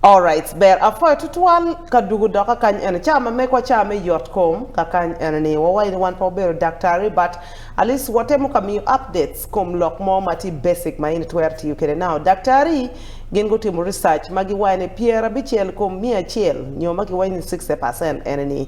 All right, ber afoyo tutwal ka dugu doka kany en chama me kwa chama yot kom ka kany en ni wawa ni wan pa obero daktari but at least watemo ka miyo updates kom lok mo mati basic ma in twer tiyo kede now daktari gin go timo research ma giwaye ni pier abichiel kom mia achiel nyo ma giwaye ni 60% en ni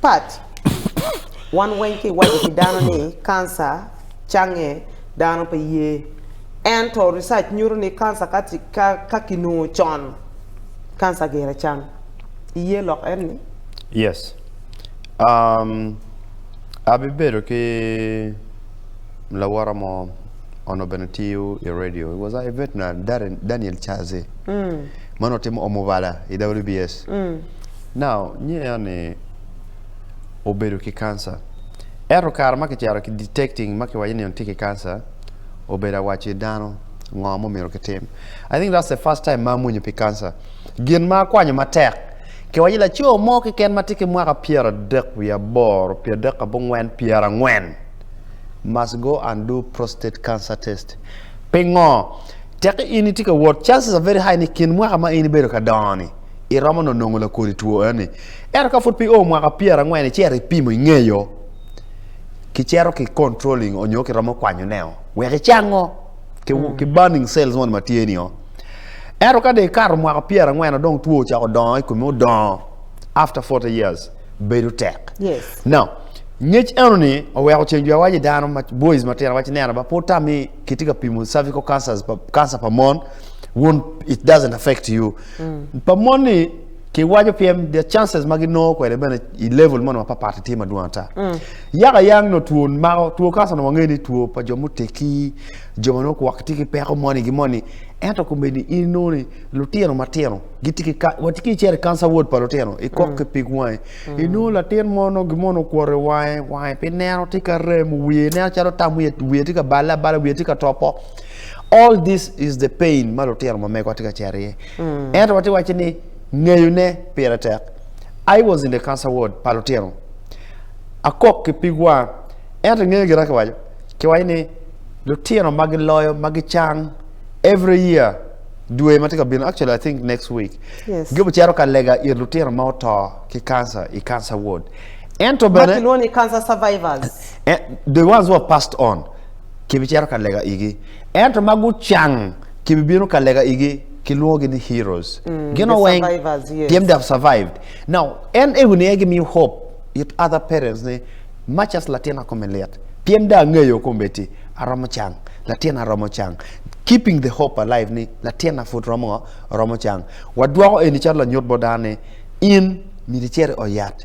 Pat, wan weng ki waco ki dano ni kansa cange dano pe ye. Ento research nyuto ni kansa ka, ka, ka kinongo con, kansa gire cang. Iye lok en ni? Yes. Um, abibedo ki lawara mo ono bene tiyo i radio. It was a veterinary, Daniel Chaze. Mm. Mano timo omubala i WBS. Mm. Now, nye yani obedo ki cancer. Ero kare ma kicero ki detecting ma kiwayo ni on tye ki cancer, obedo awaci dano ngo mo miro kitim. I think that's the first time ma amunyo pi cancer. Gin ma akwanyo matek. Kiwayo laco mo kiken ma tye ki mwaka pyera dek wi aboro, pyera dek abongwen, pyera ngwen. Must go and do prostate cancer test. Pingo, tek ini tye ka wot, chances are very high ni kin mwaka ma ini bedo ka doni. iromo no nongo la kodi tuo yani ero ka fut pi o mwaka pier angwen ichero ipimo ingeyo ki chero ki controlling onyo ki romo kwanyo neo wek ichango ki, mm. ki burning cells mon matye ni o ero ka de karo mwaka pier angwen odong tuo ochako dongo ikume odongo after 40 years bedo tek yes now ngec eno ni oweko ceng jwa waje dano boys matino wace neno ba po tami kitye ka pimo cervical cancers cancer pa mon won't it doesn't affect you mm. pa mon ni ki wajo piem the chances ma ginoo kwede bene i level mono ma papati tye madwong ata mm. yaka yang no two mako two kansa no wangeni two pa jo muteki jo ma nok wak tiki peko moni gi moni ento kumeni ino ni lutino matino gitiki watiki chere kansa ward pa lutino i kok mm. ki pig wange mm. ino latin mono gi mono kwore wange wange pi neno tika rem wiye neno calo tam wiye wiye tika bala bala wiye tika topo mm. all this is the pain ma lutino ma mego atye ka cere iye mm. ento watye waci ni ngeyone pire tek i was in the cancer ward pa lutino akok ki pig wang ento ngeyo gira kiwaco kiwaco ni lutino ma giloyo ma gicang every year dwe ma tye ka bino actually i think next week yes. gibicito ka lega ir lutino ma oto ki cancer i cancer ward ento bene cancer survivors eh, the ones who have passed on Kibicito ka lega igi. Ento ma gucang, kibibino ka lega igi, kilwongogi ni heroes. Mm, Gino the weng, survivors, yes. them they have survived. Now, en ego ni egi miyo hope it other parents ni much as latin akome liet. Piem da ang'eyo kombeti aromo chang. Latin aromo chang. Keeping the hope alive ni latin afut romo romo chang. Wadwoko eni chalo nyot bodane in milichere oyat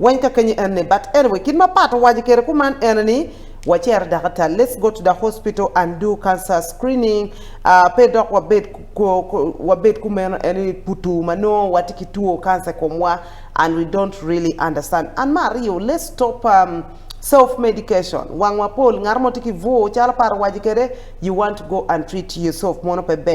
Wanka kanyi ane, but anyway, kin mapato waji kere kuman ene ni, wacher dakata, let's go to the hospital and do cancer screening, uh, pe dok wabed, ko, ko, wabed kumen ene putu mano, watiki tuo cancer komwa, and we don't really understand. And Mario, let's stop um, self medication wang wapol ngar mo tiki vuo calo paro waji kede you want to go and treat yourself mono pe ber